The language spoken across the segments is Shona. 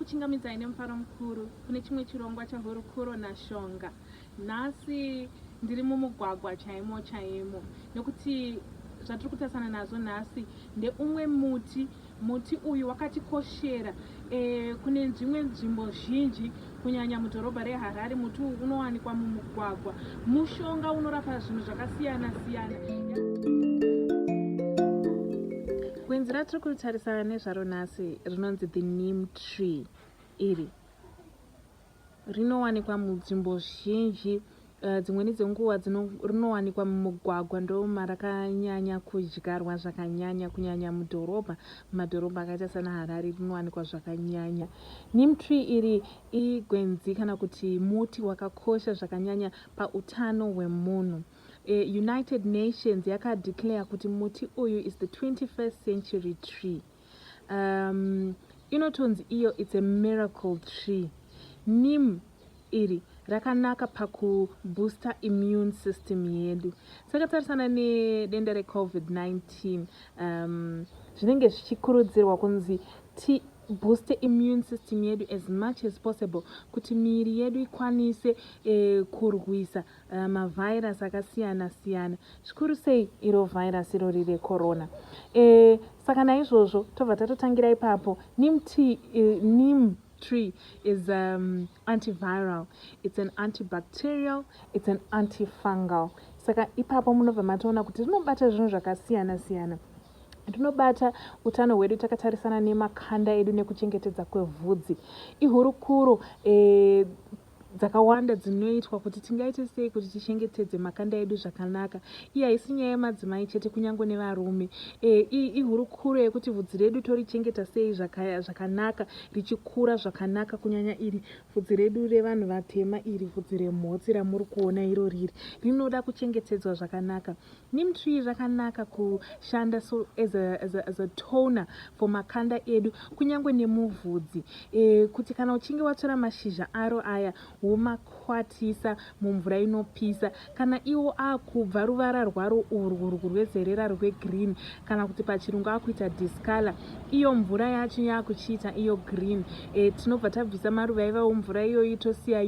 kuchingamidzai nemufaro mukuru kune chimwe chirongwa chahurukuro nashonga nhasi ndiri mumugwagwa chaimo chaimo nekuti zvatiri kutarisana nazvo nhasi ndeumwe muti Muti uyu wakatikoshera e, kune dzimwe nzvimbo zhinji kunyanya mudhorobha reHarare. Muti uyu unowanikwa mumugwagwa. Mushonga unorapa zvinhu zvakasiyana siyana. Gwenzi ratiri kutarisana nezvaro nhasi rinonzi the neem tree iri Rinowanikwa munzvimbo zhinji eh, dzimweni dzenguva rinowanikwa mumugwagwa ndomarakanyanya kudyarwa zvakanyanya kunyanya mudhorobha mumadhorobha akaita sana harare rinowanikwa zvakanyanya nim tree iri igwenzi kana kuti muti wakakosha zvakanyanya pautano hwemunhu eh, united nations yakadeclare kuti muti uyu is the 21st century tree um, inotonzi iyo its a miracle tree nim iri rakanaka pakubooster immune system yedu takatarisana nedenda recovid-19 um, zvinenge zvichikurudzirwa kunzi tibooste immune system yedu as much as possible kuti miiri yedu ikwanise eh, kurwisa Eh, mavirus akasiyana siyana zvikuru sei iro virus iro riri recorona e, saka naizvozvo tobva tatotangira ipapo nim t eh, nim tree is um, antiviral it's an antibacterial it's an antifungal saka ipapo munobva matoona kuti rinobata zvinhu zvakasiyana siyana rinobata utano hwedu takatarisana nemakanda edu nekuchengetedza kwevhudzi ihurukuro e, dzakawanda dzinoitwa kuti tingaite sei kuti tichengetedze makanda edu zvakanaka iyi haisi nyaya yemadzimai chete kunyange nevarume e, iyi ihurukuro yekuti vhudzi redu torichengeta sei zvakanaka richikura zvakanaka kunyanya iri vhudzi redu revanhu vatema iri vhudzi remhotsi ramuri kuona iro riri rinoda kuchengetedzwa zvakanaka Neem tree rakanaka kushanda so as a, as a, as a toner for makanda edu kunyange nemuvhudzi e, kuti kana uchinge watora mashizha aro aya womakwatisa mumvura inopisa kana iwo akubva ruvara rwaro urwu rwu rwezerera rwegreen kana kuti pachirungu akuita discolor iyo mvura yacho yakuchiita iyo green e, tinobva tabvisa maruva ivawo mvura iyoyi tosiya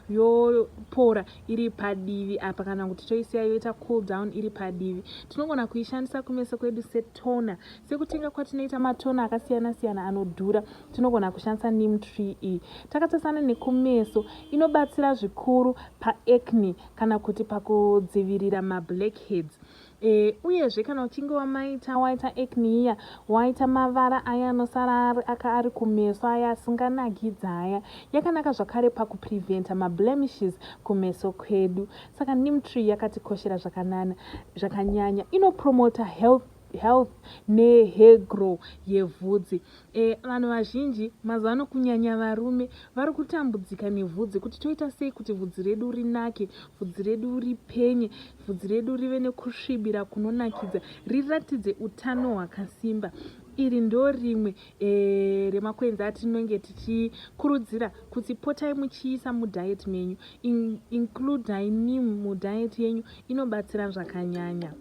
yopora yo, iri padivi apa kana kuti toisiya yoita cool down iri padivi tinogona kuishandisa kumeso kwedu setona sekutenga kwatinoita matona akasiyana siyana anodhura tinogona kushandisa nim tree iyi takatasana nekumeso inobatsira zvikuru paacne kana kuti pakudzivirira mablackheads E, uyezve kana uchinge wamaita waita acne iya waita mavara aya anosara ari aka ari kumeso aya asinganakidzi aya yakanaka zvakare pakupreventa mablemishes kumeso kwedu saka neem tree yakatikoshera zvakanana zvakanyanya inopromota health health nehair grow yevhudzi E, vanhu vazhinji mazuva ano kunyanya varume vari kutambudzika nevhudzi kuti toita sei kuti vhudzi redu rinake vhudzi redu ripenye vhudzi redu rive nekusvibira kunonakidza riratidze utano hwakasimba iri ndo rimwe e, remakwenzi atinenge tichikurudzira kuti potai muchiisa mudiet menyu In, includai nim mudiet yenyu inobatsira zvakanyanya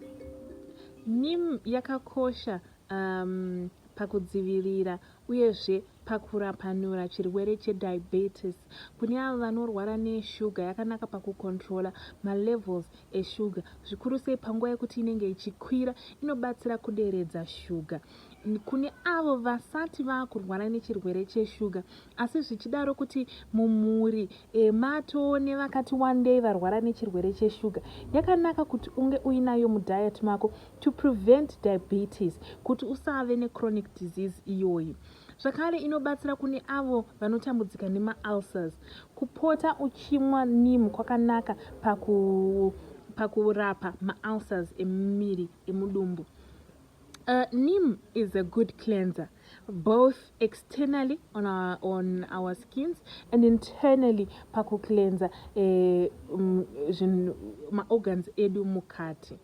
nim yakakosha um, pakudzivirira uyezve pakurapanura chirwere chediabetes kune avo vanorwara neshuga yakanaka pakukontrola malevels eshuga zvikuru sei panguva yekuti inenge ichikwira inobatsira kuderedza shuga kune avo vasati vaakurwara nechirwere cheshuga asi zvichidaro kuti mumhuri Emma toone vakati wandei varwara nechirwere cheshuga yakanaka kuti unge uinayo mudiet mako to prevent diabetes kuti usave nechronic disease iyoyi zvakare inobatsira kune avo vanotambudzika nemaulcers kupota uchimwa nim kwakanaka paku pakurapa maulcers emumiri emudumbu Uh, neem is a good cleanser both externally on our, on our skins and internally pakucleanser eh, um, maorgans edu mukati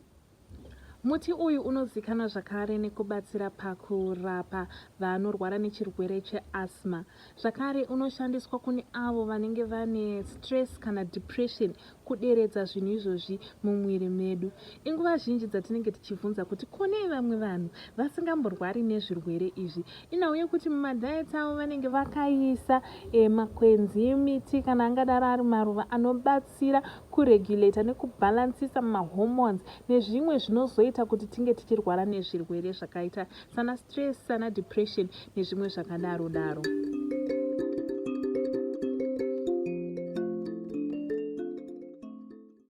muti uyu unozikanwa zvakare nekubatsira pakurapa vanorwara nechirwere cheasma Zvakare unoshandiswa kune avo vanenge vane stress kana depression kuderedza zvinhu izvozvi mumwiri medu. Inguva zhinji dzatinenge tichivhunza kuti ko nei vamwe vanhu vasingamborwari nezvirwere izvi. Inhau yekuti mumadiets avo vanenge vakaisa eh, makwenzi, miti kana angadaro ari maruva anobatsira kuregulator nekubalansisa mahormones nezvimwe zvinozoita kuti tinge tichirwara nezvirwere zvakaita sana stress sana depression nezvimwe zvakadaro daro